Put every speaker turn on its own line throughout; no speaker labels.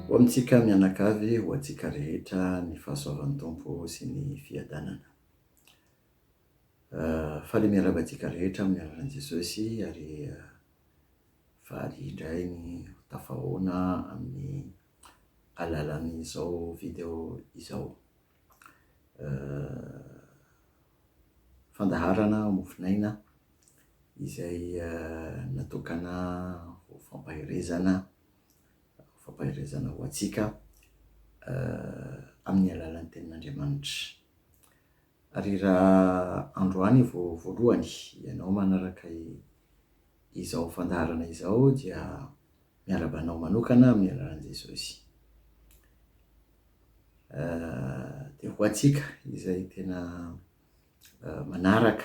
Ho amintsika mianakavy, ho antsika rehetra ny fahasoavan'ny Tompo sy ny fiadanana. Faly miarahaba antsika rehetra amin'ny anaran'i Jesosy ary faly indray ny ho tafahaona amin'ny alalan'izao video izao. Fandaharana mofonaina izay natokana ho fampaherezana, ho fampaherezana ho antsika amin'ny alalan'ny Tenin'Andriamanitra. Ary raha androany vao voalohany ianao manaraka izao fandaharana izao dia Miarahaba anao manokana amin'ny anaran'i Jesosy. Dia ho antsika izay tena manaraka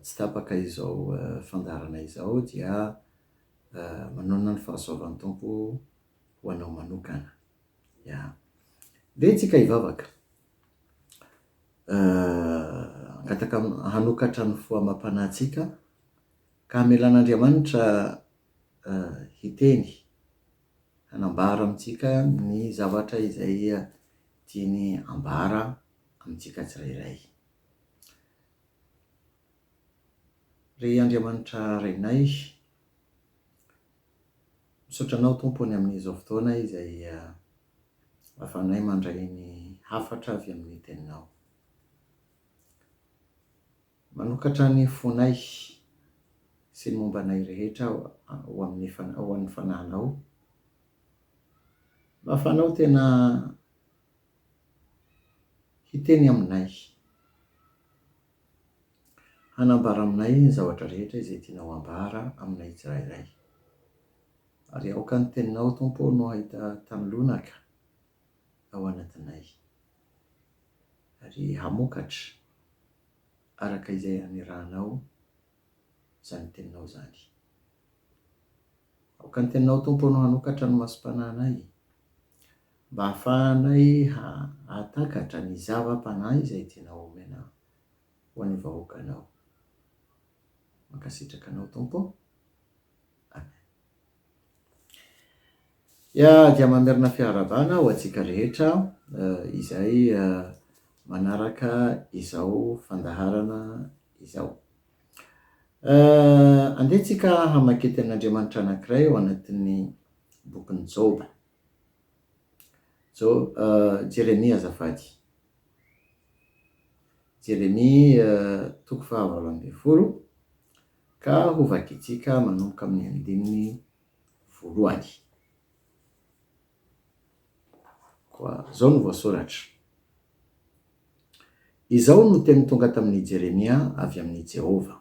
tsy tapaka izao fandaharana izao dia manonona ny fahasoavan'ny Tompo ho anao manokana. Ya. Dia antsika hivavaka. Angataka hanokatra ny fo amam-panahintsika ka hamelan'Andriamanitra hiteny, hanambara amintsika ny zavatra izay tiany hambara amintsika tsirairay. Ry Andriamanitra Rainay, misaotra Anao Tompo ny amin'izao fotoana izay ahafahanay mandray ny hafatra avy amin'ny Teninao. Manokatra ny fonay sy ny momba anay rehetra ho amin'ny ho an'ny Fanahinao. Mba fanao tena hiteny aminay, hanambara aminay ny zavatra rehetra izay tianao hambara aminay tsirairay. Ary aoka ny Teninao, Tompo ô, no hahita tanin'lonaka ao anatinay. ary hamokatra araka izay hanirahanao izany teninao izany. Aoka ny teninao, Tompo ô, no hanokatra ny masom-panahinay, mba hahafahanay hahatakatra ny zava-panahy izay tianao homena ho an'ny vahoakanao. Mankasitraka anao, Tompo ô. Amen. Ya, dia mamerina fiarahabana ho antsika rehetra izay manaraka izao fandaharana izao. Andeha tsika hamaky teny Andriamanitra anankiray ao anatin'ny bokin'i Joba. Jo- Jeremia azafady. Jeremia toko fahavalo ambin'ny folo, Ka hovakintsika manomboka amin'ny andininy voalohany. Koa izao no voasoratra, Izao no teny tonga tamin'i Jeremia avy amin'i Jehovah,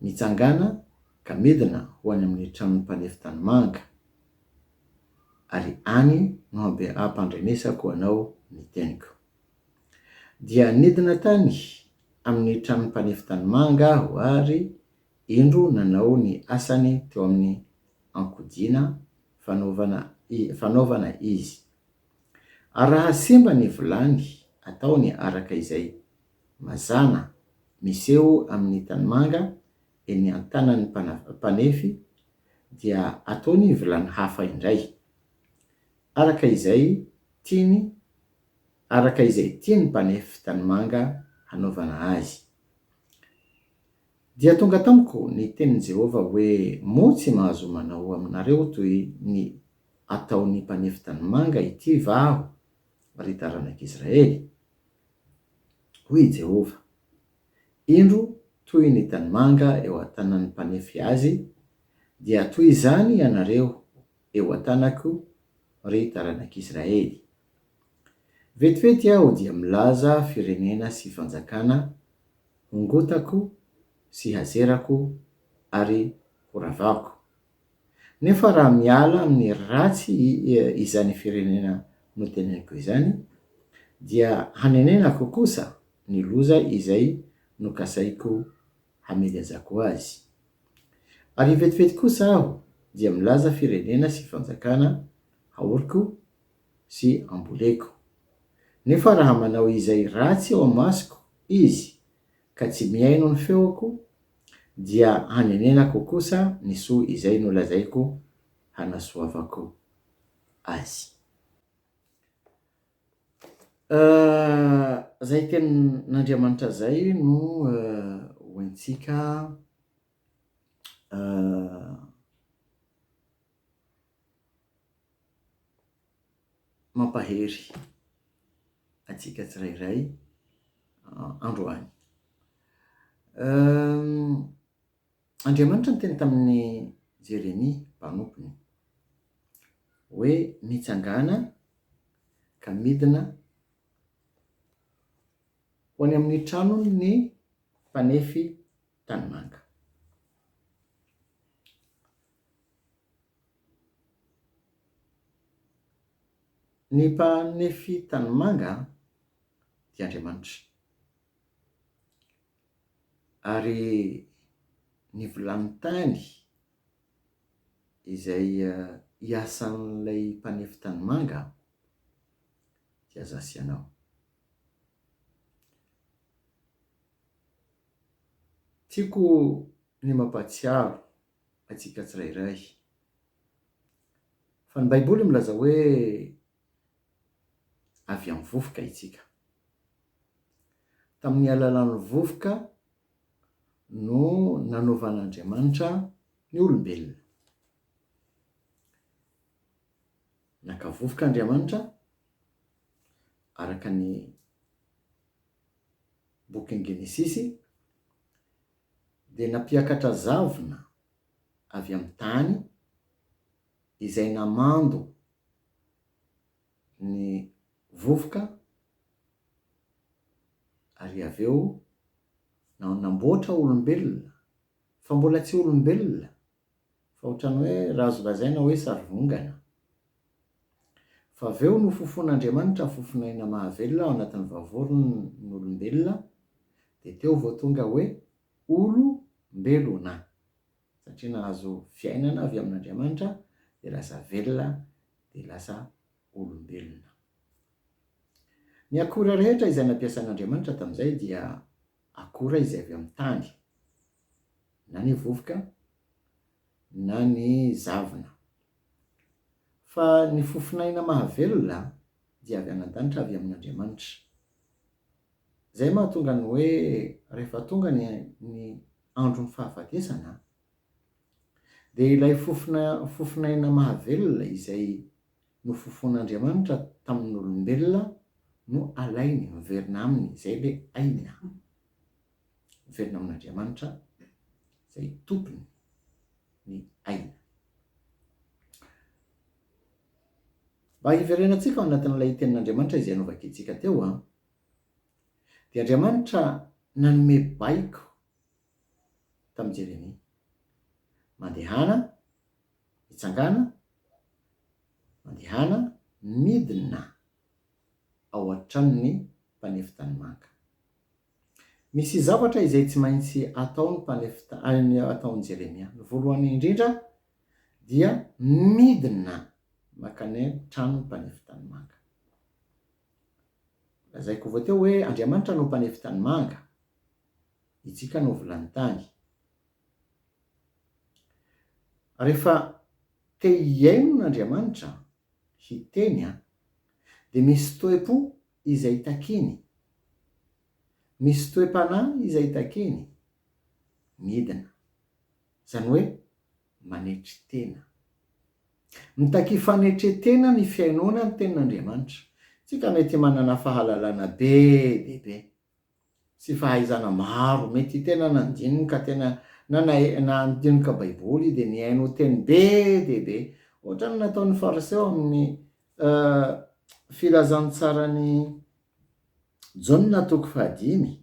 Mitsangàna ka midina ho any amin'ny tranon'ny mpanefy tanimanga, ary any no hampiram-pandrenesako anao ny teniko. Dia nidina tany amin'ny tranon'ny mpanefy tanimanga aho ary indro nanao ny asany teo amin'ny ankodina fanaovana fanaovana izy. Ary raha simba ny vilany, ataony araka izay. Mazàna, miseho amin'ny tanimanga eny an-tanan'ny mpana mpanefy, dia ataony vilany hafa indray. Araka izay tiany araka izay tiany mpanefy tanimanga hanaovana azy. Dia tonga tamiko ny tenin'i Jehovah hoe, Moa tsy mahazo manao aminareo toy ny ataon'ny mpanefy tanimanga ity va aho, ry taranak'Israely? Hoy i Jehovah, Indro toy ny tanimanga eo an-tanan'ny mpanefy azy, dia toy izany ianareo eo an-tanako, ry taranak'Israely. Vetivety aho dia milaza firenena sy fanjakana hongotako sy hazerako ary horavahako. Nefa raha miala amin'ny ratsy izany firenena noteneniko izany, dia hanenenako kosa ny loza izay nokasaiko hamehezako azy. Ary vetivety kosa aho dia milaza firenena sy fanjakana aoriko sy amboleko. Nefa raha manao izay ratsy eo amasoko izy ka tsy mihaino ny feoko, dia hanenenako kosa ny soa izay nolazaiko hanasoavako azy. Izay tenin'Andriamanitra izay no ho antsika mampahery antsika tsirairay androany. Andriamanitra niteny tamin'i Jeremia mpanompony hoe mitsangàna ka midina ho any amin'ny tranon'ny mpanefy tanimanga. Ny mpanefy tanimanga dia Andriamanitra. Ary ny vilany tany izay iasan'ilay mpanefy tanimanga dia aza asianao. Tiako ny mampahatsiaro antsika tsirairay fa ny Baiboly milaza hoe avy amin'ny vovoka isika. Tamin'ny alalan'ny vovoka no nanovan'Andriamanitra ny olombelona. Naka vovoka Andriamanitra araka ny bokin'ny Genesisy dia nampiakatra zavona avy amin'ny tany izay namando ny vovoka ary avy eo na namboatra olombelona fa mbola tsy olombelona fa ohatran'ny hoe raha azo lazaina hoe sarivongana. Fa avy eo nofofon'Andriamanitra ny fofon'aina mahavelona ao anatin'ny vavoron'olombelona dia teo vao tonga hoe olo-mbelona. satria nahazo fiainana avy amin'Andriamanitra dia lasa velona dia lasa olombelona. Ny akora rehetra izay nampiasan'Andriamanitra tamin'izay dia akora izay avy amin'ny tany, na ny vovoka na ny zavona. Fa ny fofon'aina mahavelona dia avy any an-danitra avy amin'Andriamanitra. Izay mahatonga ny hoe rehefa tonga ny ny andron'ny fahafatesana dia ilay fofona fofon'aina mahavelona izay nofofoan'Andriamanitra tamin'olombelona no alainy miverina aminy, izay ilay aina miverina amin'Andriamanitra izay tompony ny aina. Mba hiverenantsika ao anatin'ilay Tenin'Andriamanitra izay novakintsika teo an! Dia Andriamanitra nanome baiko tamin'i Jeremia. Mandehana, mitsangàna, mandehana, midina ao an-tranon'ny mpanefy tanimanga. Misy zavatra izay tsy maintsy ataon'ny mpanefy ta- ataon'i Jeremia. Ny voalohany indrindra, dia midina mankany an-tranon'ny mpanefy tanimanga. Lazaiko vao teo hoe Andriamanitra no mpanefy tanimanga, itsika no vilany tany. Rehefa te hihaino an' Andriamanitra hiteny an, dia misy toe-po izay takiany, misy toe-panahy izay takiany, midina. izany hoe manetry tena. Mitakia fanetren-tena ny fihainoana ny Tenin'Andriamanitra. Isika mety manana fahalalana be dia be sy fahaizana maro, mety tena nandinika tena nandinika Baiboly dia nihaino teny be dia be, ohatra ny nataon'ny Fariseo amin'ny Filazantsaran'i Jaona toko fahadimy,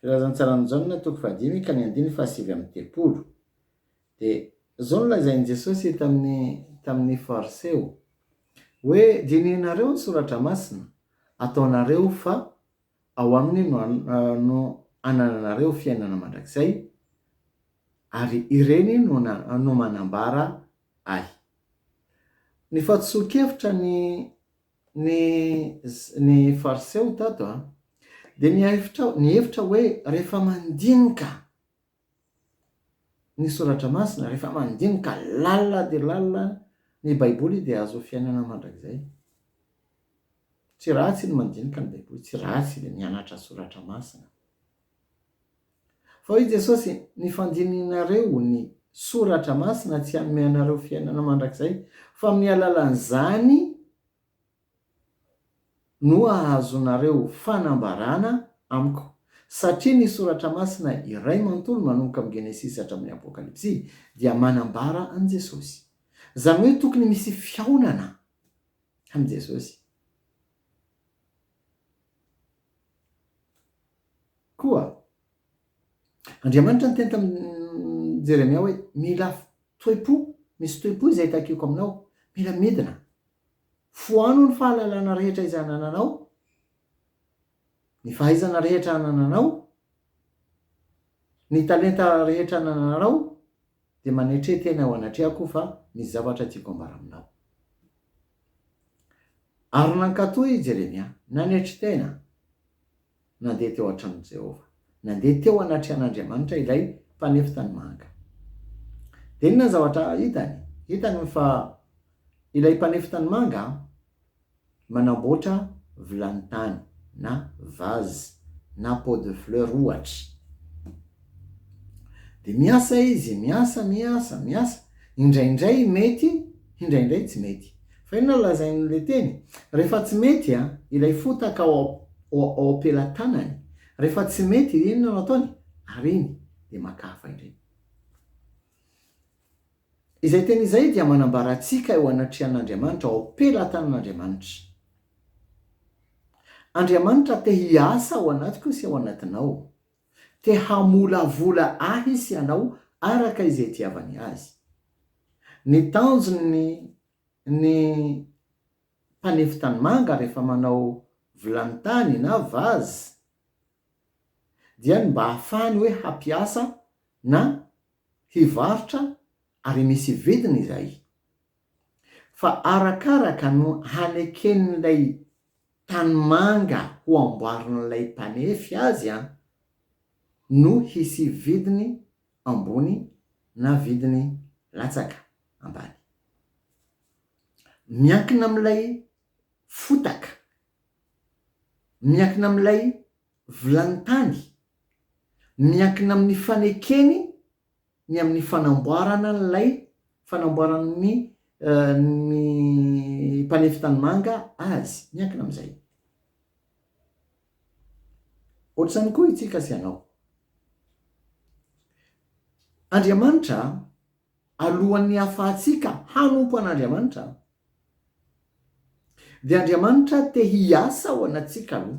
Filazan'i Tsaranjaona toko fahadimy ka ny andininy fahasivy amby telopolo dia izao no lazain'i Jesosy tamin'ny tamin'ny Fariseo hoe dinihinareo ny soratra masina ataonareo fa ao aminy no no anananareo fiainana mandrakizay ary ireny no na no manambara ahy. Ny fahadisoan-kevitra ny Ny, ny Fariseo tato an, dia nihevitra, nihevitra hoe rehefa mandinika ny Soratra Masina, rehefa mandinika lalina dia lalina ny Baiboly dia azo fiainana mandrakizay. Tsy ratsy ny mandinika ny Baiboly, tsy ratsy ny mianatra Soratra Masina. Fa hoy Jesosy, Ny fandininareo ny Soratra Masina tsy hanome anareo fiainana mandrakizay, fa amin'ny alalan'izany no hahazoanareo fanambarana Amiko. Satria ny Soratra Masina iray manontolo manomboka amin'ny Genesisy hatramin'ny Apokalypsy dia manambara an'i Jesosy. Izany hoe tokony misy fihaonana amin'i Jesosy. Koa Andriamanitra niteny tamin'i Jeremia hoe, Mila toe-po, misy toe-po izay takiako aminao. Mila midina. Foano ny fahalalana rehetra izay anananao, ny fahaizana rehetra anananao, ny talenta rehetra anananao, dia manetre tena eo anatrehako fa misy zavatra tiako hambara aminao. Ary nankatò i Jeremia, nanetry tena, nandeha teo an-tranon'i Jehovah. Nandeha teo anatrehan'Andriamanitra ilay mpanefy tanimanga. Dia inona ny zavatra hitany? Hitany fa ilay mpanefy tanimanga manamboatra vilany tany na vase na pot de fleurs, ohatra. Dia miasa izy, miasa, miasa, miasa. Indraindray mety, indraindray tsy mety. Fa inona no lazain'ilay teny? Rehefa tsy mety ilay fotaka ao am-pelatanany, rehefa tsy mety, dia inona no ataony? Ariany, dia maka hafa indray. Izay teny izay dia manambara antsika eo anatrehan'Andriamanitra, ao am-pelatanan'Andriamanitra. Andriamanitra te hiasa ao anatiko sy ao anatinao. Te hamolavola ahy izy sy anao araka izay itiavany azy. Ny tanjony ny mpanefy tanimanga rehefa manao vilany tany na vase dia ny mba hahafahany hoe hampiasa na hivarotra ary misy vidiny izay. Fa arakaraka no haneken'ilay Tanimanga ho amboarin'ilay mpanefy azy an! no hisy vidiny ambony na vidiny latsaka ambany. Miankina amin'ilay fotaka, miankina amin'ilay vilany tany, miankina amin'ny fanekeny ny amin'ny fanamboarana an'ilay fanamboaran'ny ny mpanefy tanimanga azy, miankina amin'izay. Ohatr'izany koa itsika sy ianao. Andriamanitra, alohan'ny hahafahantsika hanompo an'Andriamanitra, dia Andriamanitra te hiasa ao anatintsika aloha.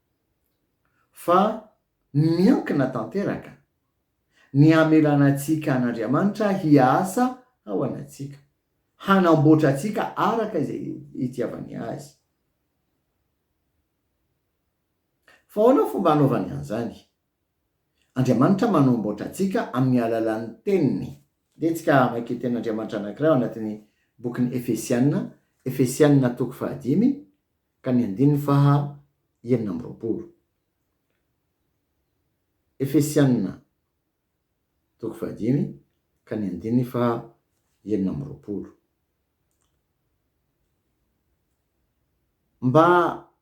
fa miankina tanteraka ny hamelana antsika an'Andriamanitra hiasa ao anatsika, hanamboatra antsika araka izay itiavany azy. Fa ahoana ny fomba hanaovany an'izany? Andriamanitra manamboatra antsika amin'ny alalan'ny teniny. Andeha tsika hamaky tenin'Andriamanitra anankiray ao anatin'ny bokin'ny Efesiana, Efesiana toko fahadimy, ka ny andininy faha enina amby roapolo. Efesiana toko faha dimy ka ny andininy faha enina amby roapolo. Mba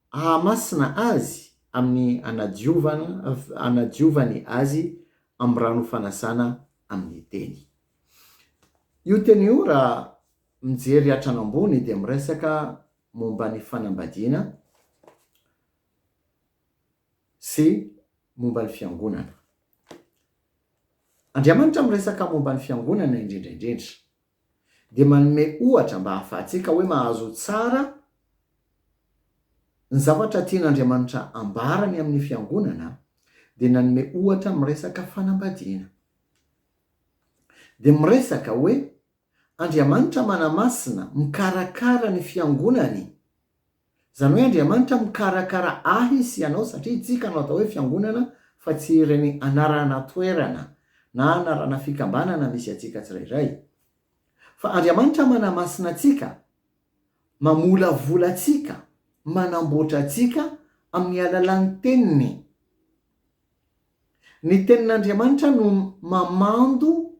hahamasina azy amin'ny hanadiovana, hanadiovany azy amin'ny rano fanasana amin'ny teny. Io teny io raha mijery hatrany ambony dia miresaka momba ny fanambadiana sy momba ny fiangonana. Andriamanitra miresaka momba ny fiangonana indrindra indrindra, dia manome ohatra mba hahafahantsika hoe mahazo tsara ny zavatra tian'Andriamanitra ambarany amin'ny fiangonana, dia nanome ohatra miresaka fanambadiana. Dia miresaka hoe Andriamanitra manamasina, mikarakara ny fiangonany. Izany hoe Andriamanitra mikarakara ahy sy ianao satria itsika no atao hoe fiangonana fa tsy ireny anarana toerana na anarana fikambanana misy antsika tsirairay. Fa Andriamanitra manamasina antsika, mamolavola antsika, manamboatra antsika amin'ny alalan'ny Teniny. Ny Tenin'Andriamanitra no mamando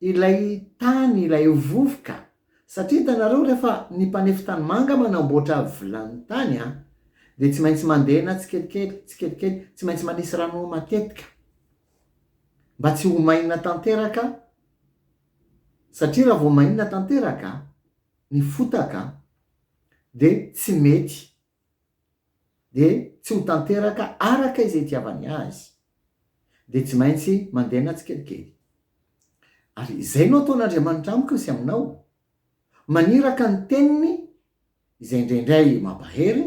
Ilay tany ilay ho vovoka. Satria hitanareo rehefa ny mpanefy tanimanga manamboatra vilany tany a, dia tsy maintsy mandena tsikelikely, tsikelikely, tsy maintsy manisy rano matetika mba tsy ho maina tanteraka satria raha vao maina tanteraka ny fotaka dia tsy mety dia tsy ho tanteraka araka izay itiavany azy, dia tsy maintsy mandena tsikelikely. Ary izay no ataon'Andriamanitra amiko sy aminao, maniraka ny teniny izay indraindray mampahery,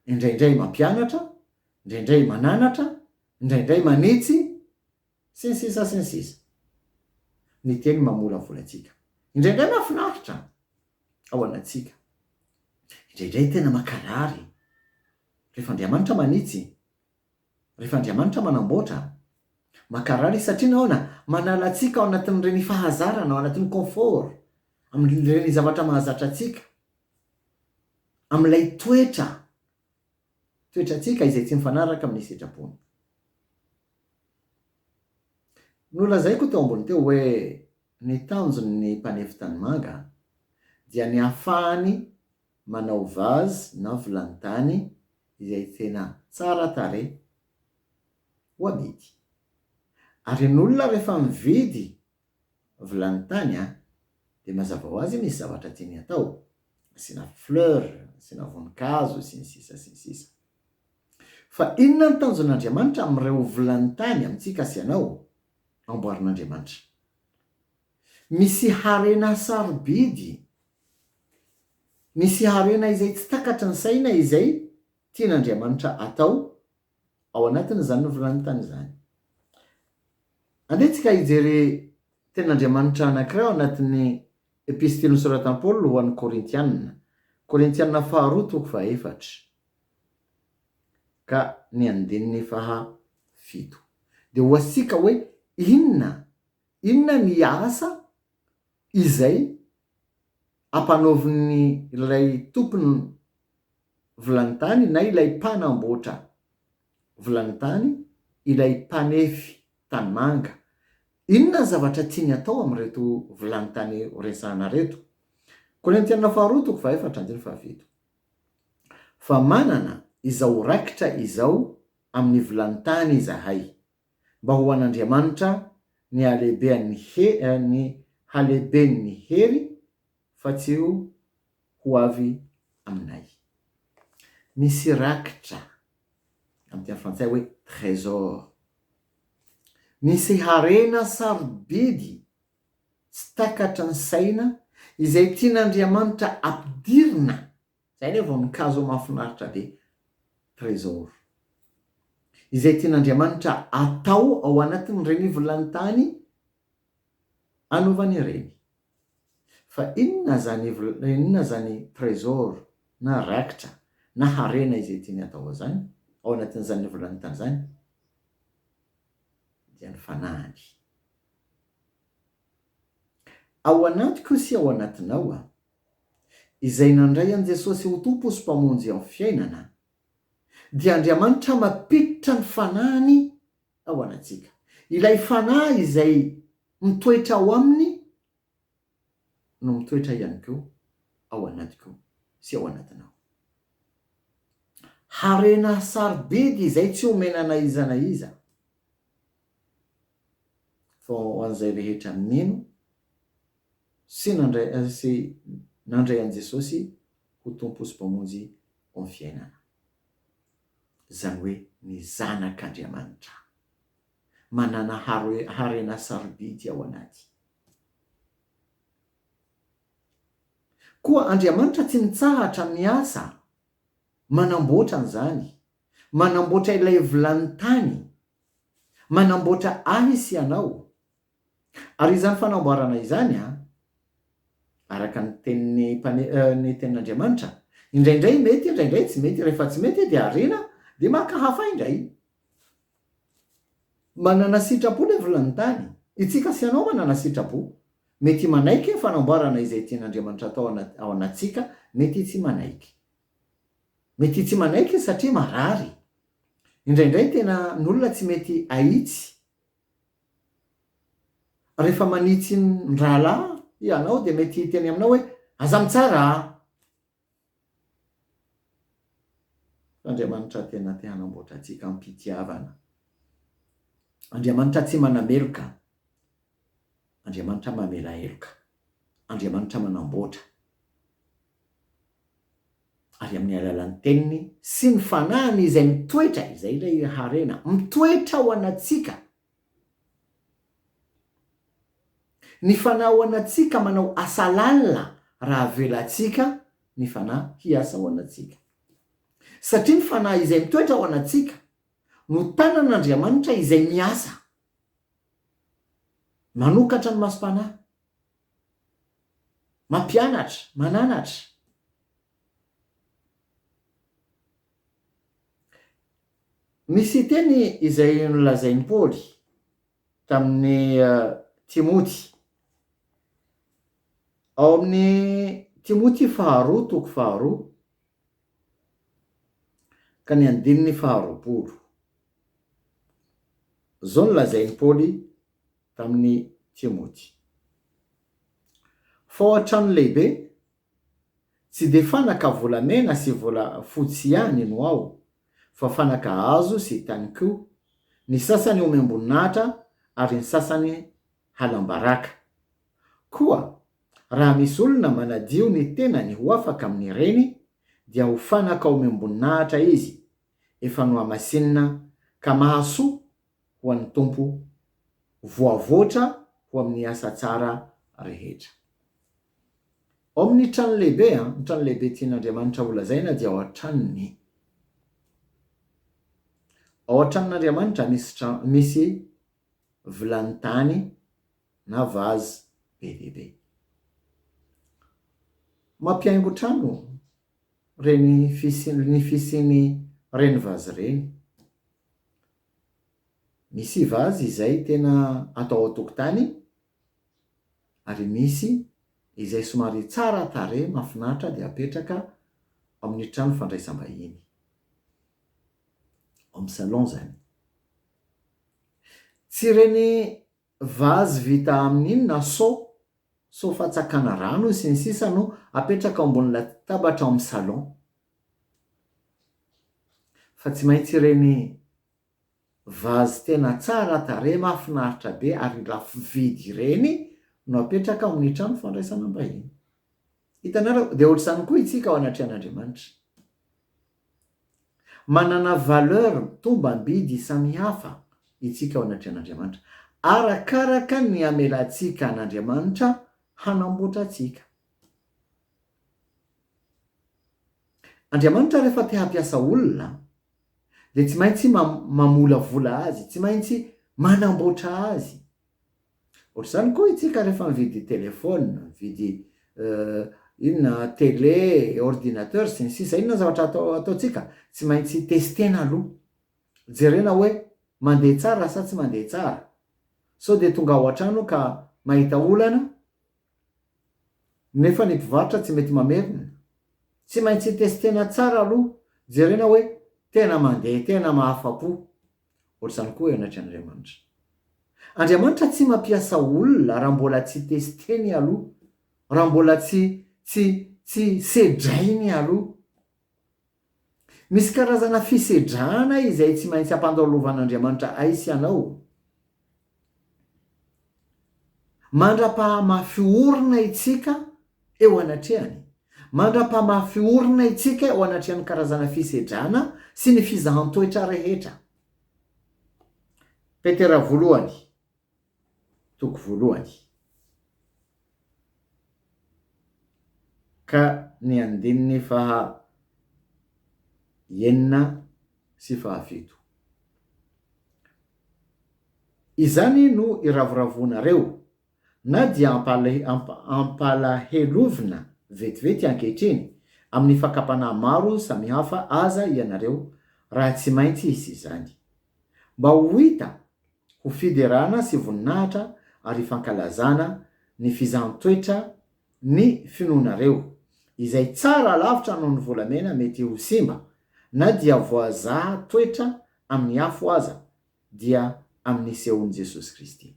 indraindray mampianatra, indraindray mananatra, indraindray manitsy, Sy ny sisa sy ny sisa. Ny teny mamolavola antsika. Indraindray mahafinaritra ao anatsika. Indraindray tena mankarary. Rehefa Andriamanitra manitsy. Rehefa Andriamanitra manamboatra. Mankarary izy satria nahoana? Manala antsika ao anatin'ireny fahazarana, ao anatin'ny confort. Amin'ireny zavatra mahazatra antsika. Amin'ilay toetra, toetrantsika izay tsy mifanaraka amin'ny sitrapony. Nolazaiko teo ambony teo hoe ny tanjon' ny mpanefy tanimanga dia ny ahafahany manao vase na vilany-tany izay tena tsara tarehy ho amidy. Ary ny olona rehefa mividy vilany tany a! dia mazava ho azy misy zavatra tiany hatao, asiana fleur, asiana voninkazo, sy ny sisa sy ny sisa. Fa inona ny tanjon'Andriamanitra amin'ireo vilany tany amintsika sy anao? Amboarin'Andriamanitra. Misy harena sarobidy, misy harena izay tsy takatry ny saina izay tian'Andriamanitra atao ao anatin'izany novolantany izany. Andeha tsika hijery tenin'Andriamanitra anankiray ao anatin'ny epistily nosoratan'i Paoly ho an'ny Korintianina, Korintianina faharoa toko fahaefatra ka ny andininy faha fito. Dia ho asika hoe inona, inona ny asa Izay ampanaovin'ny ilay tompony vilany tany na ilay mpanamboatra vilany tany ilay mpanefy tanimanga. Inona ny zavatra tiany atao amin'ireto vilany tany horesahana ireto? Korintiana faharoa toko fahefatra andininy fahafito. Fa manana izao rakitra izao amin'ny vilany tany izahay. mba ho an'Andriamanitra ny halehibean'ny ny halehiben'ny hery fa tsy ho ho avy aminay. Misy rakitra, amin'ny teny frantsay hoe trésor. Misy harena sarobidy tsy takatry ny saina izay tian'Andriamanitra ampidirina. Zay anie vao nikazo mafinaritra be Trésor. Izay tian'Andriamanitra atao ao anatin'ireny vilany-tany anaovany ireny. Fa inona zany inona zany Trésor na raikitra na harena izay tiany atao azany ao anatin'izany vilany-tany zany? Dia ny fanahiny. Ao anatiko sy ao anatinao Izay nandray an'i Jesosy ho Tompo sy Mpamonjy amin'ny fiainana, dia Andriamanitra mampiditra ny Fanahiny ao anatsika. Ilay Fanahy izay mitoetra ao Aminy no mitoetra ihany koa ao anatiko sy ao anatinao. Harena sarobidy izay tsy omena na iza na iza. Fa ho an'izay rehetra nino sy nandray sy nandray an'i Jesosy ho Tompo sy Mpamonjy ao amin'ny fiainana, izany hoe ny zanak'Andriamanitra, manana harena sarobidy ao anaty. Koa Andriamanitra tsy mitsahatra miasa manamboatra an'izany Manamboatra ilay vilany tany manamboatra ahy sy anao. Ary izany fanamboarana izany, araka ny tenin'ny mpane-, ny tenin'Andriamanitra, indraindray mety, indraindray tsy mety, rehefa tsy mety dia ariana, dia maka hafa indray. Manana sitrapo ilay vilany tany. Itsika sy ianao manana sitrapo. Mety manaiky ny fanamboarana izay tian'Andriamanitra atao ao anatintsika, mety tsy manaiky. Mety tsy manaiky satria marary. Indraindray tena ny olona tsy mety ahitsy rehefa manitsy ny rahalahy ianao dia mety hiteny aminao hoe aza mitsara a! Andriamanitra tena te hanamboatra antsika am-pitiavana. Andriamanitra tsy manameloka. Andriamanitra mamela heloka. Andriamanitra manamboatra, ary amin'ny alalan'ny Teniny sy ny Fanahiny izay mitoetra, izay ilay harena, mitoetra ao anatsika. Ny Fanahy ao anatsika manao asa lalina raha avelantsika ny Fanahy hiasa ao anatsika. Satria ny Fanahy izay mitoetra ao anatsika no tanan'Andriamanitra izay miasa Manokatra ny masom-panahy. Mampianatra, mananatra. Misy teny izay nolazain'i Paoly tamin'i Timoty. Ao amin'ny Timoty faharoa, toko faharoa, Ka ny andininy faharoapolo. Izao no lazain'i Paoly tamin'i Timoty, Fa ao an-trano lehibe, tsy dia fanaka volamena sy volafotsy ihany no ao, fa fanaka hazo sy tany koa, ny sasany omem-boninahitra, ary ny sasany halam-baraka. Koa raha misy olona manadio ny tenany ho afaka amin'ireny, dia ho fanaka ao amim-boninahitra izy, efa nohamasinina ka mahasoa ho an'ny Tompo, voavoatra ho amin'ny asa tsara rehetra. Ao amin'ny trano lehibe, ny trano lehibe tian'Andriamanitra holazaina dia ao an-tranony. Ao an-tranon'Andriamanitra misy misy vilany tany na vazy be dia be. Mampihaingo trano reny fisian ny fisiany reny vazy reny. Misy vazy izay tena atao an-tokotany ary misy izay somary tsara tarehy mahafinaritra dia apetraka ao amin' ny trano fandraisam-bahiny, home salon izany. Tsy ireny vazy vita amin'ny inona, so, so fatsakana rano sy ny sisa no apetraka ao ambony latabatra ao amin'ny salon. Fa tsy maintsy ireny vazy tena tsara tarehy, mahafinaritra be ary lafo vidy ireny no apetraka ao amin'ny trano fandraisana mbahiny. Hitanareo, dia ohatr'izany koa itsika ao anatrehan'Andriamanitra. Manana valeur, tombam-bidy samihafa itsika ao anatrehan'Andriamanitra, arakaraka ny amelantsika an'Andriamanitra hanamboatra antsika. Andriamanitra rehefa te hampiasa olona, dia tsy maintsy mamolavola azy, tsy maintsy manamboatra azy. Ohatr'izany koa itsika rehefa mividy telephone, mividy inona télé, ordinateur sy ny sisa, inona zavatra atao ataontsika? Tsy maintsy testena aloha, jerena hoe mandeha tsara sa tsy mandeha tsara, sao dia tonga ao an-trano ka mahita olana nefa ny mpivarotra tsy mety mamerina, tsy maintsy testena tsara aloha, jerena hoe tena mandeha, tena mahafa-po. Ohatr'izany koa ianatra Andriamanitra. Andriamanitra tsy mampiasa olona raha mbola tsy testeny aloha, raha mbola tsy tsy tsy sedrainy aloha. Misy karazana fisedrana izay tsy maintsy ampandalovan'Andriamanitra ay sy anao. Mandra-pahamafy orina itsika eo anatrehany. Mandra-pahamafy orina itsika eo anatrehan'ny karazana fisedrana sy ny fizahan-toetra rehetra. Petera voalohany, toko voalohany, ka ny andininy faha enina sy fahafito. Izany no iravoravoanareo, na dia ampalahelovina vetivety ankehitriny amin'ny fakam-panahy maro samihafa aza ianareo raha tsy maintsy hisy izany. Mba ho hita ho fiderana sy voninahitra ary fankalazana ny fizaham-toetra ny finoanareo, izay tsara lavitra noho ny volamena mety ho simba, na dia voazaha toetra amin'ny afo aza, dia amin'ny nisehoan'i Jesosy Kristy.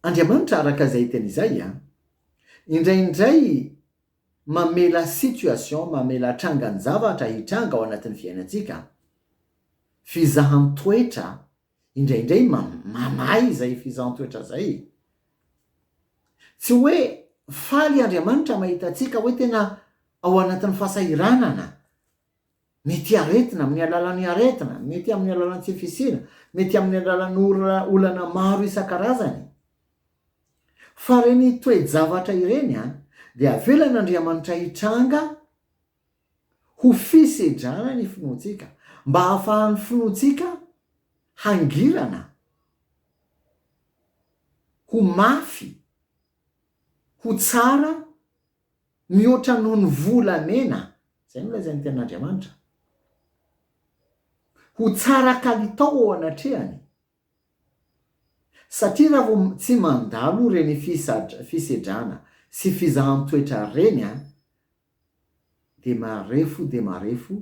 Andriamanitra araka izay tena izay an! Indraindray mamela situation, mamela trangan-javatra hitranga ao anatin'ny fiainantsika, fizahan-toetra Indraindray mamaha izay fizahantsoetra izay e! Tsy hoe faly Andriamanitra mahita antsika hoe tena ao anatin'ny fahasahiranana, mety aretina, amin'ny alalan'ny aretina, mety amin'ny alalan'ny tsy fisiana, mety amin'ny alalan'ny olana maro isan-karazany. Fa ireny toe-javatra ireny dia avelan'Andriamanitra hitranga ho fisedrana ny finoantsika, mba hahafahan'ny finoantsika hangirana, ho mafy, ho tsara mihoatra noho ny volamena, izay no lazain'ny Tenin'Andriamanitra, ho tsara kalitao ao anatrehany, satria raha vao tsy mandalo ireny fisedrana sy fizahan-toetra ireny dia marefo dia marefo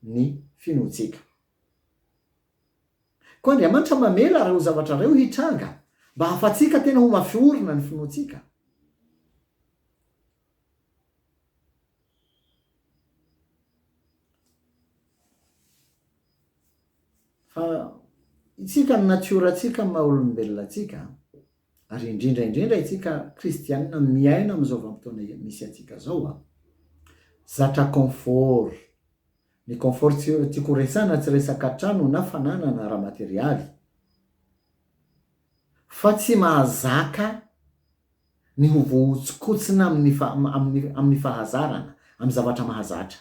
ny finoantsika. Koa Andriamanitra mamela ireo zavatra ireo hitranga mba hahafahantsika tena ho mafy orina ny finoantsika. Fa isika ny natiora-tsika ny maha olombelona antsika, ary indrindra indrindra itsika kristianina miaina amin'izao vanim-potoana misy antsika zao an! Zatra confort! Ny confort tsy tiako ho resahina tsy resaka trano na fananana ara-materialy fa tsy mahazaka ny ho voahotsinkotsina amin'ny amin'ny fahazarana, amin'ny zavatra mahazatra.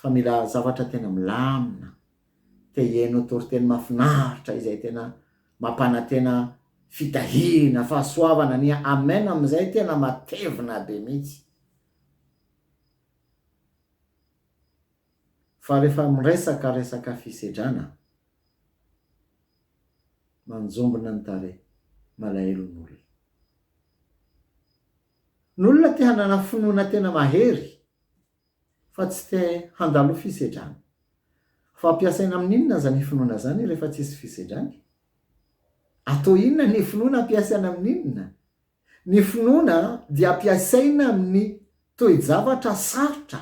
fa mila zavatra tena milamina, te hihaino toriteny mahafinaritra izay tena mampanantena fitahiana, fahasoavana, ny amen amin'izay tena matevina be mihitsy. Fa rehefa miresaka resaka fisedrana, manjombona ny tarehy, malahelo ny olona. Ny olona te hanana finoana tena mahery fa tsy te handalo fisedrana. Fa ampiasaina amin'ny inona aza ny finoana izany rehefa tsisy fisedrana e? Atao inona ny finoana ampiasaina amin'ny inona? Ny finoana dia ampiasaina amin'ny toe-javatra sarotra,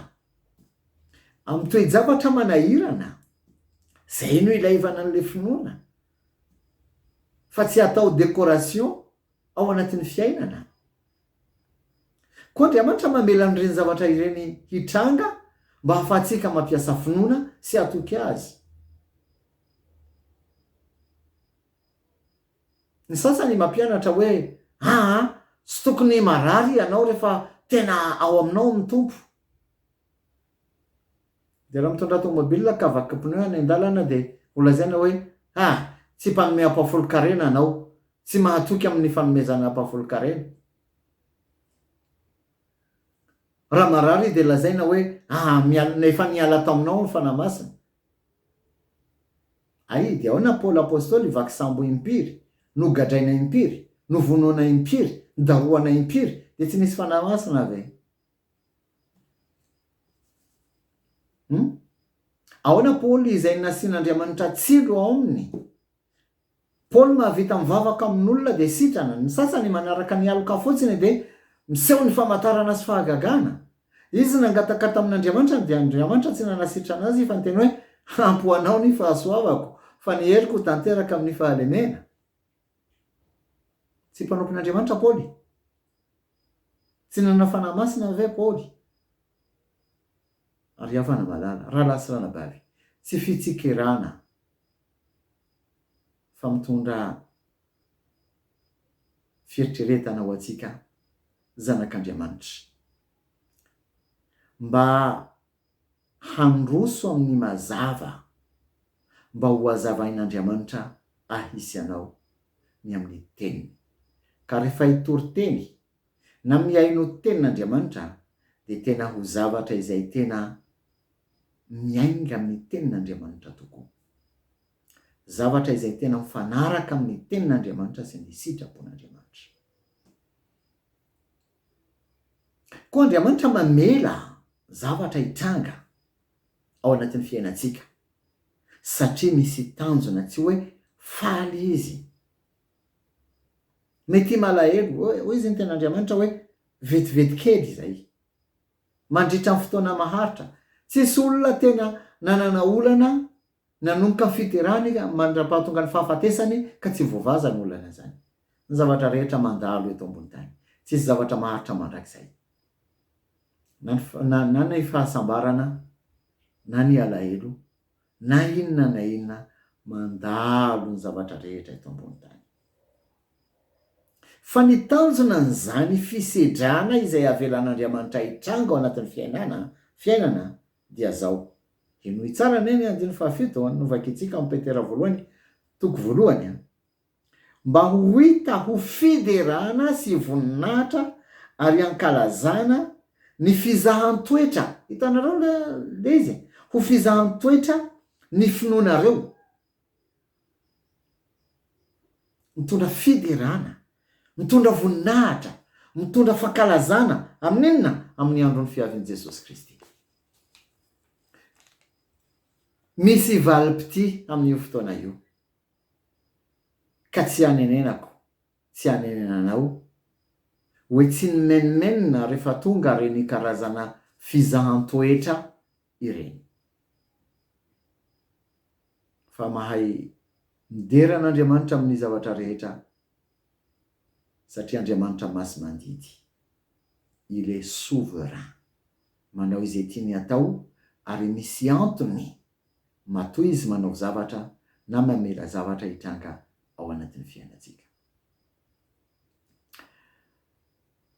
amin'ny toe-javatra manahirana. Izay no ilaivana an'ilay finoana fa tsy atao décoration ao anatin'ny fiainana. Koa Andriamanitra mamela an'ireny zavatra ireny hitranga mba hahafahantsika mampiasa finoana sy hatoky Azy. Ny sasany mampianatra hoe, Aa, tsy tokony marary ianao rehefa tena ao aminao ny Tompo. Dia raha mitondrà tomobilina ka vaky pneu any an-dalana dia ho lazaina hoe ha! tsy mpanome ampahafolon-karena anao, tsy mahatoky amin'ny fanomezana ampahafolon-karena. Raha marary dia lazaina hoe ha! mial, efa niala taminao ny Fanahy Masina. Ay, dia ahoana Paoly Apostoly, vaky sambo impiry, nogadraina impiry, novonoina impiry, nodarohana impiry, dia tsy nisy Fanahy Masina ve? Hum? Ahoana Paoly izay nasian'Andriamanitra tsilo ao aminy? Paoly mahavita mivavaka amin'olona dia sitrana. Ny sasany manaraka ny aloka fotsiny dia miseho ny famantarana sy fahagagana. Izy nangataka tamin'Andriamanitra dia Andriamanitra tsy nanasitrana azy fa niteny hoe, Ampy ho anao ny fahasoavako, fa ny heriko ho tanteraka amin'ny fahalemena. Tsy mpanompon'Andriamanitra Paoly. Tsy nanana fanahy masina ny ray Paoly, ary havana malala, rahalahy sy ranabavy, tsy fitsikerana fa mitondra fieritreretana ho antsika zanak'Andriamanitra mba Handroso amin'ny mazava mba ho hazavain'Andriamanitra ahy sy anao ny amin'ny Teniny. Ka rehefa hitory teny na mihaino tenin'Andriamanitra dia tena ho zavatra izay tena miainga amin'ny tenin'Andriamanitra tokoa. Zavatra izay tena mifanaraka amin'ny tenin'Andriamanitra sy ny sitrapon'Andriamanitra. Koa Andriamanitra mamela zavatra hitranga ao anatin'ny fiainantsika satria misy tanjona, tsy hoe faly Izy. Mety himalahelo, hoy izy ny Tenin'Andriamanitra hoe vetivety kely izay. Mandritra ny fotoana maharitra, tsisy olona tena nanana olana Nanomboka ny fiderany mandra-pahatonga ny fahafatesany ka tsy voavaza ny olana izany. Ny zavatra rehetra mandalo eto ambony tany. Tsy hisy zavatra maharitra mandrakizay. Na ny, na, na ny fahasambarana, na ny alahelo, na inona na inona, mandalo ny zavatra rehetra eto ambony tany. Fa ny tanjona an'izany fisedrana izay avelan'Andriamanitra hitranga ao anatin'ny fiainana, fiainana, dia zao. Henoy tsara anie ny andininy fahafito an, novakintsika ao am Petera voalohany toko voalohany an. Mba ho hita ho fiderana sy voninahitra ary ankalazana ny fizahan-toetra, hitanareo le izy e, ho fizahan-toetra ny finoanareo. Mitondra fiderana, mitondra voninahitra, mitondra fankalazana amin'ny inona? Amin'ny andron'ny fiavian'i Jesosy Kristy. Misy valim-pitia amin'io fotoana io, ka tsy hanenenako, tsy hanenenanao hoe tsy nimenomenona rehefa tonga ireny karazana fizahan-toetra ireny. fa mahay midera an'Andriamanitra amin'ny zavatra rehetra satria Andriamanitra masimandidy. Il est souverain. Manao izay tiany atao ary misy antony matoa izy manao zavatra na mamela zavatra hitranga ao anatin'ny fiainantsika.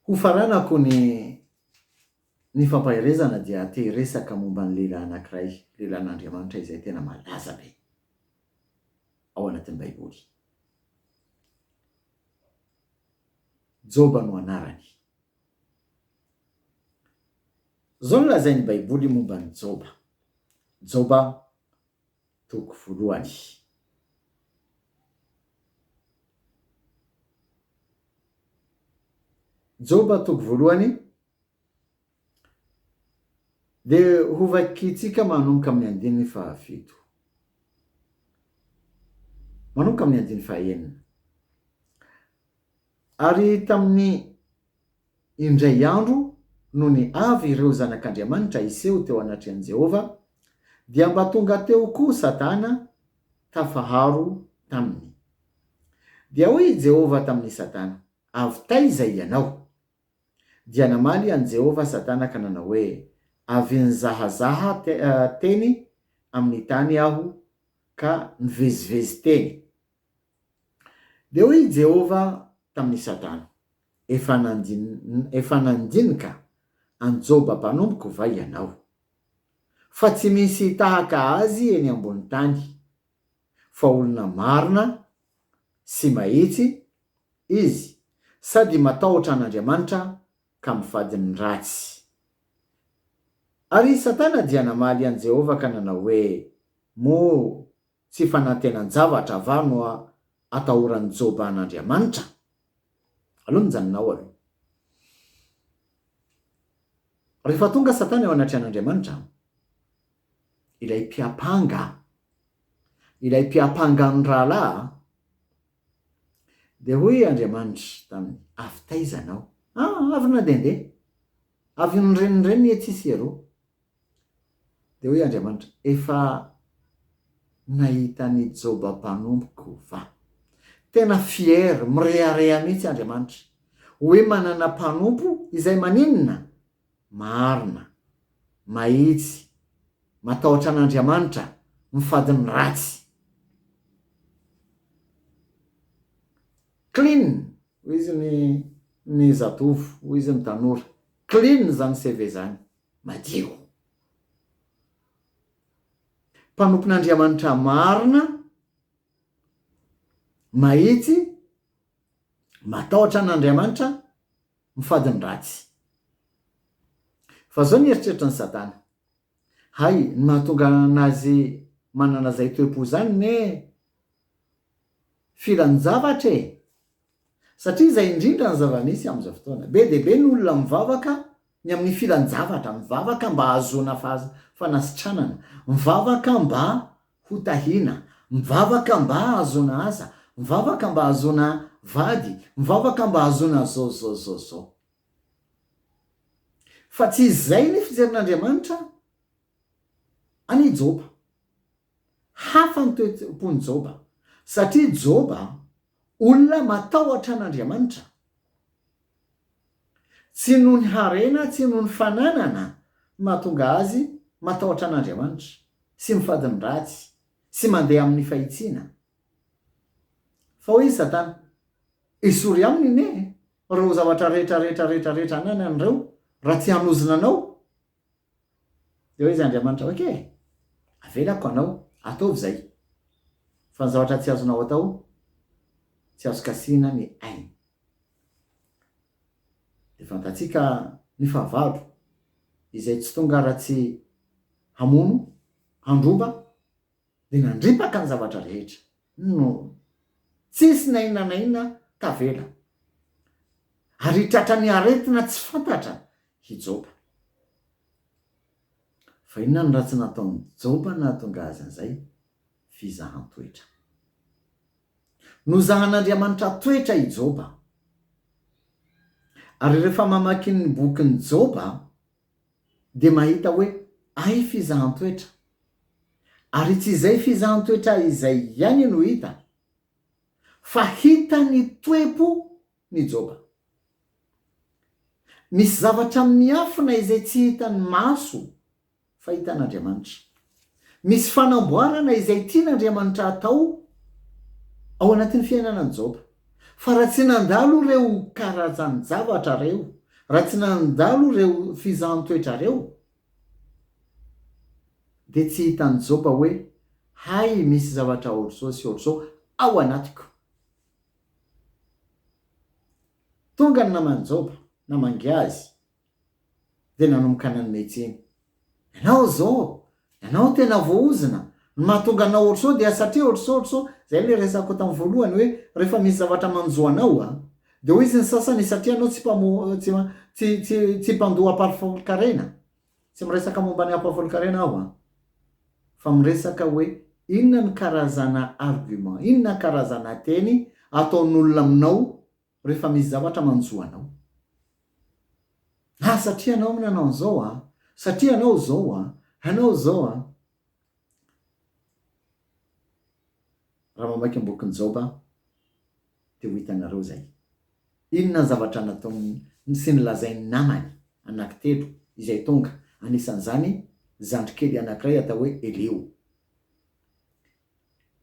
Hofaranako ny Ny fampaherezana dia te hiresaka momba ny lehilahy anankiray, lehilahin'Andriamanitra izay tena malaza be ao anatin'ny Baiboly. Joba no anarany. Izao no lazain'ny Baiboly momba an'i Joba, Joba toko voalohany. Joba toko voalohany, Dia hovakintsika manomboka amin'ny andininy fahafito manomboka amin'ny andininy fahaenina. Ary tamin'ny indray andro nony avy ireo zanak'Andriamanitra hiseho teo anatrehan'i Jehovah, dia mba tonga teo koa Satana tafaharo taminy. Dia hoy i Jehovah tamin'i Satana, Avy taiza ianao? Dia namaly an'i Jehovah Satana ka nanao hoe, Avy nizahazaha teny amin'ny tany aho ka nivezivezy teny. Dia hoy i Jehovah tamin'i Satana, Efa efa nandinika an'i Joba mpanompoko va ianao, fa tsy misy tahaka azy eny ambonin'ny tany, fa olona marina sy mahitsy izy sady matahotra an'Andriamanitra ka mifady ny ratsy. Ary i Satana dia namaly an'i Jehovah ka nanao hoe, Moa tsy fanantenan-javatra va no atahoran'i Joba an'Andriamanitra? Aleo mijanona ao aloha. Rehefa tonga Satana eo anatrehan'Andriamanitra, ilay mpiampanga, ilay mpiampanga ny rahalahy a! Dia hoy Andriamanitra taminy, Avy taiza anao? A! Avy nandehandeha, avy nirenireny etsy sy eroa. Dia hoy Andriamanitra, Efa nahita an'i Joba mpanompoko va? Tena fier, mirehareha mihitsy Andriamanitra, hoe manana mpanompo izay maninona? Marina, mahitsy, matahotra an'Andriamanitra, mifady ny ratsy. Clean! hoy izy ny ny zatovo, hoy izy ny tanora. Clean izany CV izany, madio. Mpanompon'Andriamanitra marina, mahitsy, matahotra an'Andriamanitra, mifady ny ratsy. Fa zao ny eritreritra ny Satana. Hay, ny mahatonga anazy manana zay toe-po zany ne filan-javatra e! Satria zay indrindra ny zava-misy amin'izao fotoana. Be dia be ny olona mivavaka ny amin'ny filan-javatra, mivavaka mba hahazoana fanasitranana, mivavaka mba ho tahiana, mivavaka mba hahazoana asa, mivavaka mba hahazoana vady, mivavaka mba hahazoana zao zao zao zao. Fa tsy izay ny fijerin'Andriamanitra an' i Joba. Hafa ny toe-pon'i Joba, satria Joba Olona matahotra an'Andriamanitra. Tsy noho ny harena, tsy noho ny fananana no mahatonga azy matahotra an'Andriamanitra sy mifady ny ratsy sy mandeha amin'ny fahitsiana. Fa hoy i Satana, Esory aminy anie ireo zavatra rehetra rehetra rehetra rehetra ananany ireo raha tsy hanozona anao Dia hoy izy Andriamanitra, ok, avelako anao, ataovy izay, fa ny zavatra tsy azonao atao, tsy azo kasihina ny ainy. Dia fantatsika ny fahavalo, izay tsy tonga raha tsy hamono, handroba, Dia nandripaka ny zavatra rehetra no tsisy na inona na inona tavela. Ary hitratra ny aretina tsy fantatra i Joba. Fa inona no ratsy nataon'i Joba nahatonga azy an'izay? Fizahan-toetra. Nozahan'Andriamanitra toetra i Joba. Ary rehefa mamaky ny bokin'i Joba dia mahita hoe ay fizahan-toetra, ary tsy izay fizahan-toetra izay ihany no hita, fa hita ny toe-po ny Joba. Misy zavatra miafina izay tsy hitan'ny maso fa hitan'Andriamanitra. Misy fanamboarana izay tian'Andriamanitra hatao ao anatin'ny fiainana an'i Joba. Fa raha tsy nandalo ireo karazan-javatra ireo, raha tsy nandalo ireo fizahan-toetra ireo, dia tsy hitan'i Joba hoe, Hay misy zavatra hoatr'izao sy hoatr'izao ao anatiko. Tonga ny naman'i Joba, namangy azy. dia nanomboka nanome tsiny. Ianao zô, ianao tena voahozona, ny mahatonga anao ohatr'izao dia satria ohatr'izao ohatr'izao, zay le resako tam voalohany hoe rehefa misy zavatra manjo anao a, de hoy izy ny sasany satria anao tsy mpamo tsy tsy tsy tsy mpandoa ampahafolon-karena, tsy miresaka momba ny ampahafolon-karena aho a, fa miresaka hoe inona ny karazana argument, inona karazana teny ataon'olona aminao Rehefa misy zavatra manjo anao. Ah satria anao no nanao an'izao ah, satria anao izao ah, anao izao ah. Raha mamaky ny bokin'i Joba dia ho hitanareo izay. Inona ny zavatra nataony sy nolazain'ny namany anankitelo izay tonga, anisan'izany zandrikely anankiray atao hoe Eliho.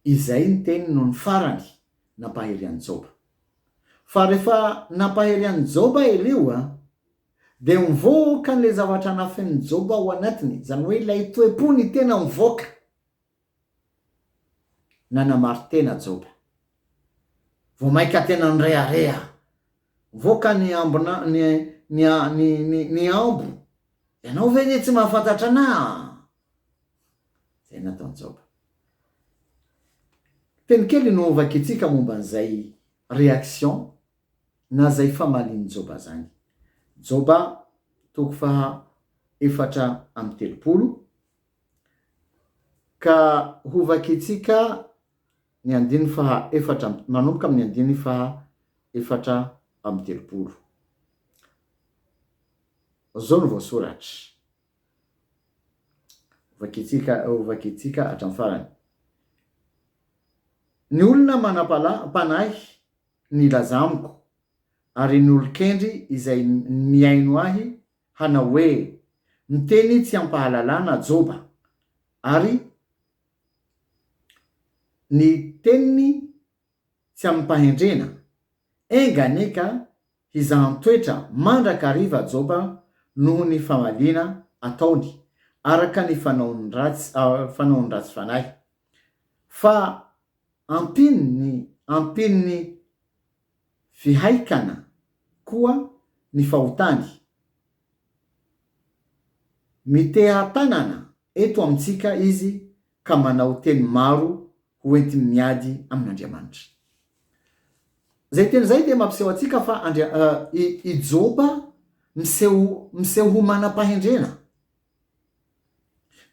Izay ny teny nony farany nampahery an'i Joba. Fa rehefa nampahery an'i Joba ireo dia nivoaka an'ilay zavatra nafenin'i Joba ao anatiny, izany hoe ilay toe-pony tena nivoaka. Nanamari-tena Joba. Vao mainka tena nirehareha. Voaka ny ambina ny ny a ny ny ny ambo. Ianao ve anie tsy mahafantatra anah a! Zay nataon'i Joba. Teny kely no hovakintsika momba an'izay réaction na zay famalian'i Joba zany. Joba toko faha efatra amby telopolo, ka hovakintsika Ny andininy faha efatra amby, manomboka amin'ny andininy faha efatra amby telopolo. Izao no voasoratra. Hovakintsika, hovakintsika hatramin'ny farany. Ny olona manam-pala, panahy nilaza amiko, ary ny olon-kendry izay mihaino ahy, hanao hoe, Miteny tsy am-pahalalana Joba, ary ny teniny tsy amim-pahendrena, Enga anie ka hizahan-toetra mandrakariva Joba noho ny famaliana ataony araka ny fanaony ratsy, fanaony ratsy fanahy. Fa ampin'ny, ampin'ny Fihaikana koa ny fahotany. Miteha-tanana eto amintsika izy ka manao teny maro ho entiny miady amin'Andriamanitra. Izay teny izay dia mampiseho antsika fa i Joba miseho ho manam-pahendrena.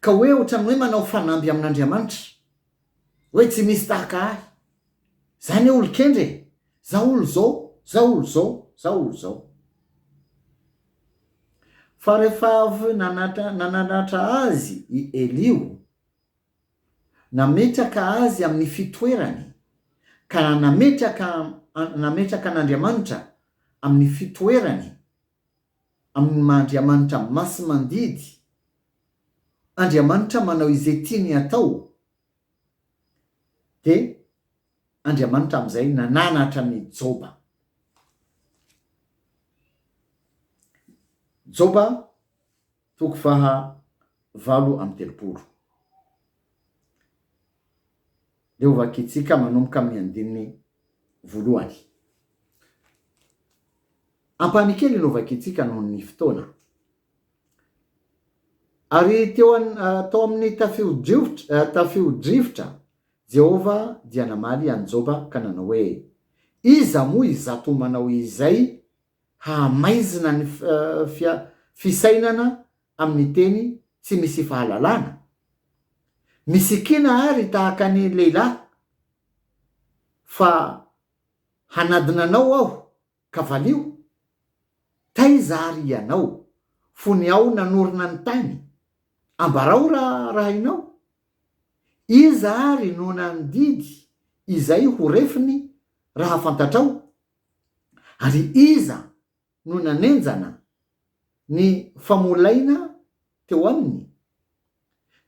Ka hoe ohatran'ny hoe manao fanamby amin'Andriamanitra. Hoe tsy misy tahaka ahy. Za anie olon-kendry e! Za olo zao, za olo zao, za olo zao. Fa rehefa avy nananatra azy i Elio, nametraka azy amin'ny fitoerany, ka nametraka nametraka an'Andriamanitra amin'ny fitoerany amin'ny maha Andriamanitra masi-mandidy, Andriamanitra manao izay tiany hatao, dia Andriamanitra amin'izay nananatra an'i Joba. Joba. Toko faha valo amby telopolo. Dia hovakintsika manomboka amin'ny andininy voalohany. Ampahany kely no hovakintsika noho ny fotoana. Ary teo an, tao amin'ny tafiodrivotra, tafiodrivotra Jehovah dia namaly an'i Joba ka nanao hoe, Iza moa izato manao izay Hahamaizina ny fisainana amin'ny teny tsy misy fahalalana. Misikina àry tahaka ny lehilahy, fa hanadina anao aho, ka valio. Taiza àry ianao, fony aho nanorina ny tany? Ambarao raha hainao. Iza àry no nandidy izay ho refiny raha fantatrao? Ary iza no nanenjana ny famolaina teo aminy?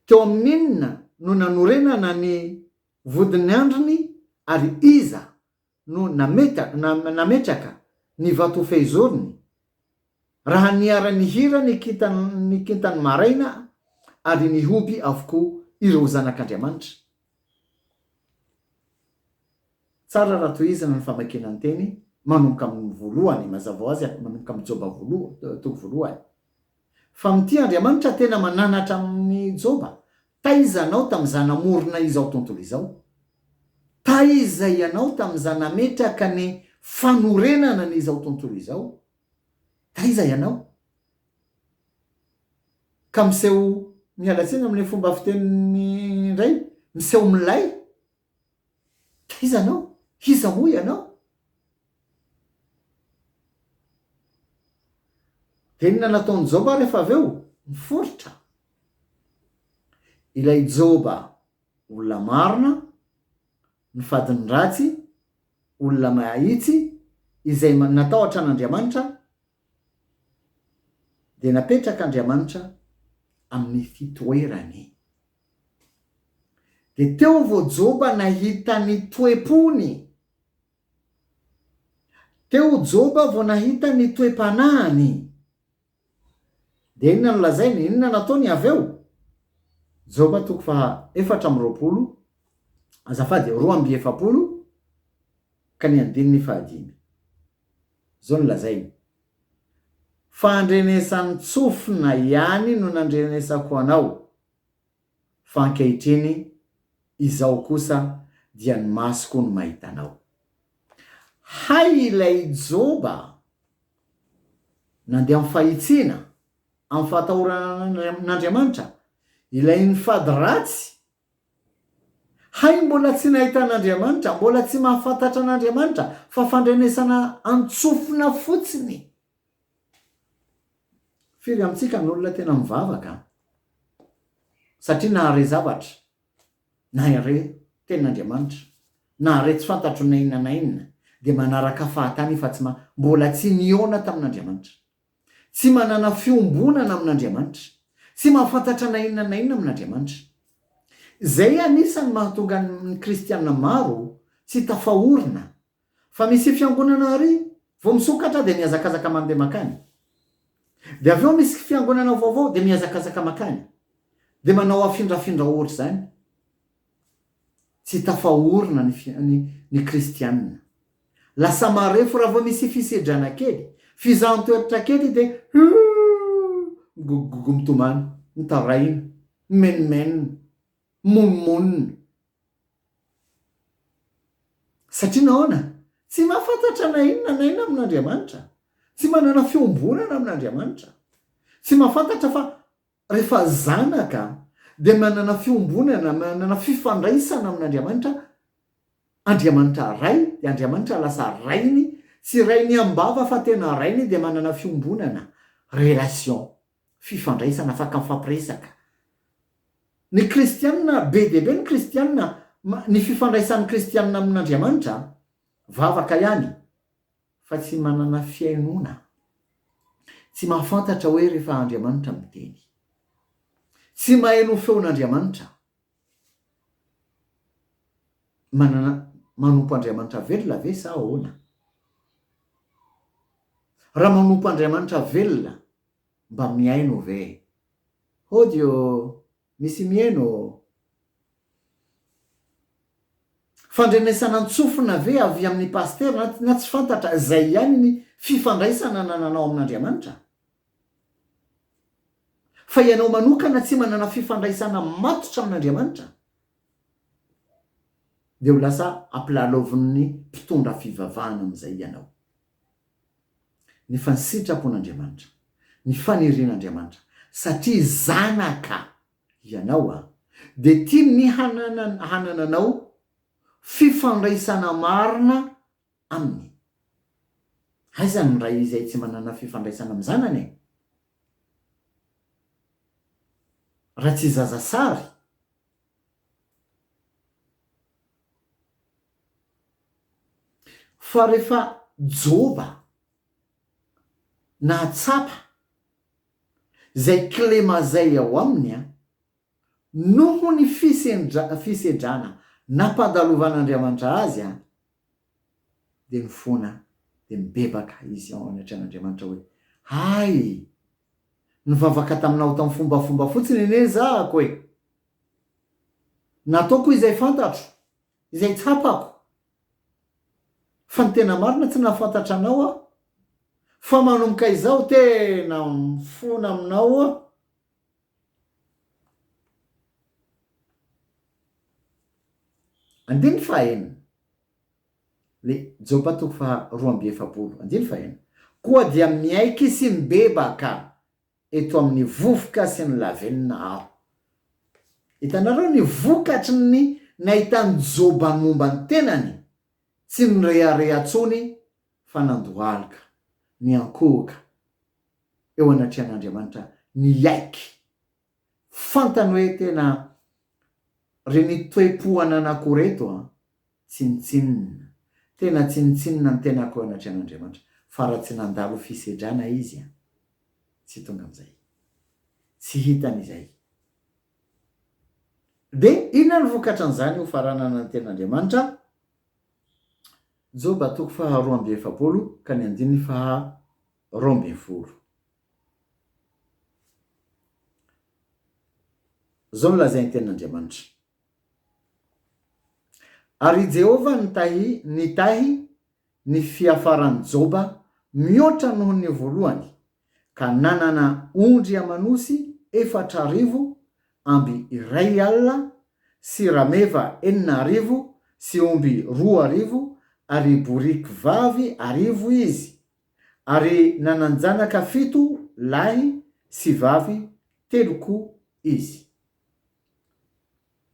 Teo amin'inona no nanorenana ny vodin'ny andriny ary iza no nametraka ny vatofehizoriny? Raha niara-nihira ny kintan'ny maraina ary nihoby avokoa ireo zanak'Andriamanitra. Tsara raha tohizana ny famakiana ny teny manomboka amin'ny voalohany, mazava ho azy aky manomboka amin'ny Joba voalohany, toko voalohany. Fa mitia Andriamanitra tena mananatra amin'i Joba, Taiza anao tamin'iza namorona izao tontolo izao? Taiza ianao tamin'iza nametraka ny fanorenana an'izao tontolo izao? Taiza ianao? ka miseho miala tsiny amin'ilay fomba fiteniny indray, miseho milay, ka iza ianao? Iza moa ianao? Dia inona no ataon'i Joba rehefa avy eo? Miforitra. Ilay Joba olona marina, ny fadiny ratsy, olona mahitsy, izay natahotra an'Andriamanitra, Dia napetraka Andriamanitra amin'ny fitoerany. Dia teo vao Joba nahita ny toe-pony. Teo Joba vao nahita ny toe-panahiny. Dia inona no lazainy? Inona no ataony avy eo? Joba toko faha efatra amby roapolo, azafady, roa amby efapolo ka ny andininy faha dimy. Izao no lazainy, Fa andrenesan-tsofina ihany no nandrenesako anao, fa ankehitriny izao kosa dia ny masoko no mahita anao. Hay ilay Joba nandeha amin'ny fahitsiana, amin'ny fahatahorana an'Andriamanitra, ilay nifady ratsy Hay mbola tsy nahita an'Andriamanitra, mbola tsy mahafantatra an'Andriamanitra, fa fandrenesana an-tsofina fotsiny. Firy amintsika no olona tena mivavaka satria nahare zavatra, nahare tenin'Andriamanitra, nahare tsy fantatro na inona na inona, dia manaraka fahatany fa tsy maha, mbola tsy nihaona tamin'Andriamanitra. Tsy manana fiombonana amin'Andriamanitra. Tsy mahafantatra na inona na inona amin'Andriamanitra. Izay anisan'ny mahatonga ny kristiana maro tsy tafaorina fa misy fiangonana ary vao misokatra dia mihazakazaka mandeha mankany. Dia avy eo misy fiangonana vaovao dia mihazakazaka mankany. Dia manao afindrafindra ohatr'izany. tsy tafaorina ny fi, ny, ny kristianina. Lasa marefo raha vao misy fisedrana kely, fizahan-toertra kely dia hoo! migogogogo mitomany, mitaraina, mimenomenona, mimonomonona. Satria nahoana? Tsy mahafantatra na inona na inona amin'Andriamanitra. Tsy manana fiombonana amin'Andriamanitra. Tsy mahafantatra fa Rehefa zanaka dia manana fiombonana, manana fifandraisana amin'Andriamanitra, Andriamanitra Ray, dia Andriamanitra lasa Rainy, tsy Rainy am-bava fa tena Rainy, dia manana fiombonana, relation, fifandraisana, afaka mifampiresaka. Ny kristianina, be dia be ny kristianina, ny fifandraisan'ny kristianina amin'Andriamanitra, vavaka ihany, fa tsy manana fihainoana, tsy mahafantatra hoe rehefa Andriamanitra miteny, tsy maheno feon'Andriamanitra, manana manompo Andriamanitra velona ve sa ahoana? Raha manompo Andriamanitra velona mba mihaino ve? Hody ô! Misy mihaino ô! Fandrenesana an-tsofina ve avy amin'ny pasitera na tsy fantatra, izay ihany ny fifandraisana nananao amin'Andriamanitra? Fa ianao manokana tsy manana fifandraisana matotra amin'Andriamanitra, dia ho lasa ampilalaovin'ny mpitondra fivavahana amin'izay ianao. Ny fansitrapon'Andriamanitra, ny fanirian'Andriamanitra, satria zanaka ianao dia tiany ny hanananao fifandraisana marina Aminy. Aiza ny ray izay tsy manana fifandraisana amin'ny zanany e? Raha tsy zaza sary. Fa rehefa Joba nahatsapa izay kilema izay ao aminy, noho ny fisedrana nampandalovan'Andriamanitra azy, dia nifona dia nibebaka izy ao anatrehan'Andriamanitra hoe, Hay! Nivavaka taminao tamin'ny fombafomba fotsiny anie zahako e! Nataoko izay fantatro Izay tsapako fa ny tena marina tsy nahafantatra anao aho fa manomboka izao tena mifona aminao aho. Andininy faha enina. Le Joba toko faha roa amby efapolo andininy faha enina. Koa dia miaiky sy mibebaka. eto amin'ny vovoka sy ny lavenona aho. Hitanareo ny vokatry ny nahitan'i Joba momba ny tenany? Tsy nirehareha intsony fa nandohalika, niankohoka eo anatrehan'Andriamanitra, niaiky. Fantany hoe tena ry ny toe-po ananako reto an! Tsinontsinona. Tena tsinontsinona ny tenako eo anatrehan' Andriamanitra fa raha tsy nandalo ho fisedrana Izy an! tsy tonga amin'izay. Tsy hitany izay. Dia inona no vokatran'izany hofaranana ny tena Andriamanitra? Joba toko faha roa amby efapolo ka ny andininy faha roa ambin'ny folo. Izao no lazain'ny tenin'Andriamanitra. Ary i Jehovah nitahy nitahy ny fiafaran'i Joba mihoatra noho ny voalohany, ka nanana ondry aman'osy efatra arivo, amby iray alina, sy rameva enina arivo, sy omby roa arivo, ary boriky vavy arivo izy, ary nanan-janaka fito lahy sy vavy telo koa izy.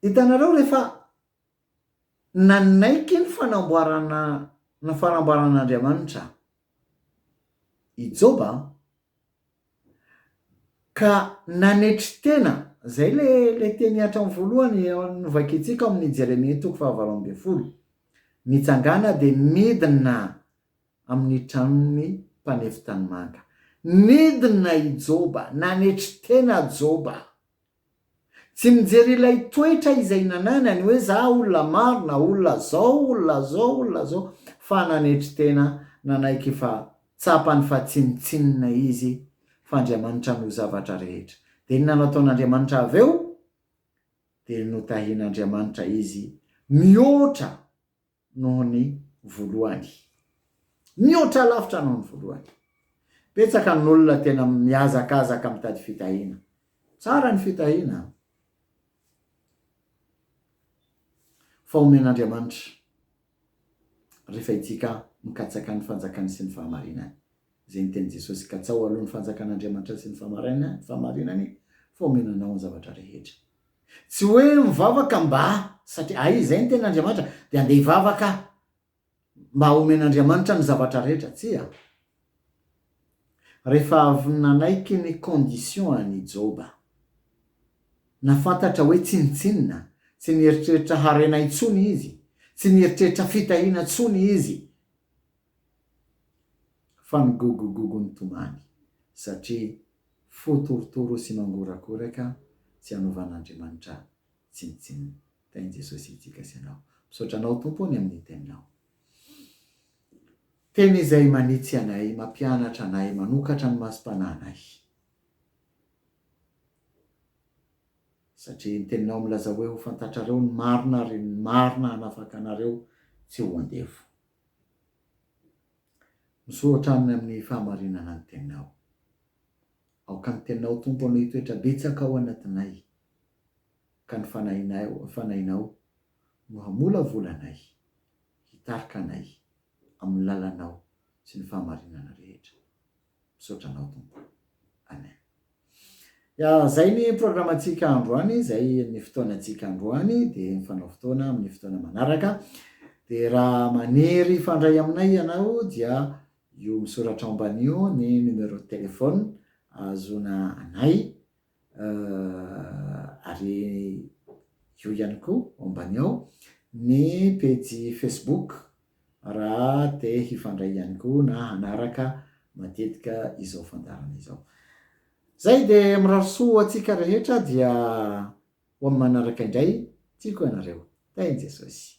Hitanareo rehefa nanaiky ny fanamboarana ny fanamboaran'Andriamanitra i Joba ka nanetry tena, izay ilay ilay teny hatrany voalohany novakintsika ao amin'ny Jeremia toko fahavalo ambin'ny folo, Nitsangàna dia nidina amin'ny tranon'ny mpanefy tanimanga. Nidina i Joba, nanetry tena Joba. Tsy mijery ilay toetra izay nananany hoe za olona maro na olona zao, olona zao, olona zao fa nanetry tena nanaiky fa tsapany fa tsinontsinona izy fa Andriamanitra no zavatra rehetra. Dia inona no ataon'Andriamanitra avy eo? Dia notahian'Andriamanitra izy mihoatra noho ny voalohany. Mihoatra lavitra noho ny voalohany. Betsaka ny olona tena mihazakazaka mitady fitahiana. Tsara ny fitahiana an! Fa omen'Andriamanitra rehefa itsika mikatsaka ny fanjakany sy ny fahamarinany. Izay ny tenin'i Jesosy, Katsaho aloha ny fanjakan'Andriamanitra sy ny fahamarinany, fa omena anao ny zavatra rehetra. Tsy hoe mivavaka mba satria hay izay ny tenin'Andriamanitra dia andeha hivavaka mba homen'Andriamanitra ny zavatra rehetra, tsia. Rehefa avy nanaiky ny condition-any i Joba, na fantatra hoe tsinontsinona, tsy nieritreritra harena intsony izy, tsy nieritreritra fitahiana intsony izy, Fa ny gogogogo nitomany, satria fo torotoro sy mangorakoraka tsy hanovan'Andriamanitra tsinontsinona. Tahin'i Jesosy antsika sy ianao. Misaotra Anao Tompo o ny amin'ny Teninao. Teny izay manitsy anay, mampianatra anay, manokatra ny masom-panahinay. Satria ny Teninao milaza hoe ho fantatrareo ny marina ary ny marina hanafaka anareo tsy ho andevo. Misaotra aminy amin'ny fahamarinana ny teninao. Aoka ny teninao Tompo anao hitoetra betsaka ao anatinay, ka ny fanahinao fanahinao no hamolavola anay, hitarika anay amin'ny lalanao sy ny fahamarinana rehetra. Misaotra anao Tompo. Amen. Ya, zay ny programantsika androany, zay ny fotoanantsika androany, dia mifanao fotoana amin'ny fotoana manaraka. Dia raha maniry hifandray aminay ianao dia io misoratra ao ambanio ny numéro de téléphone ahazoana anay Ahh ary eo ihany koa ao ambany ao ny pejy facebook raha te hifandray ihany koa na hanaraka matetika izao fandaharana izao. Zay de mirary soa ho antsika rehetra dia ho amin'ny manaraka indray, tiako ianareo. Tahin'i Jesosy.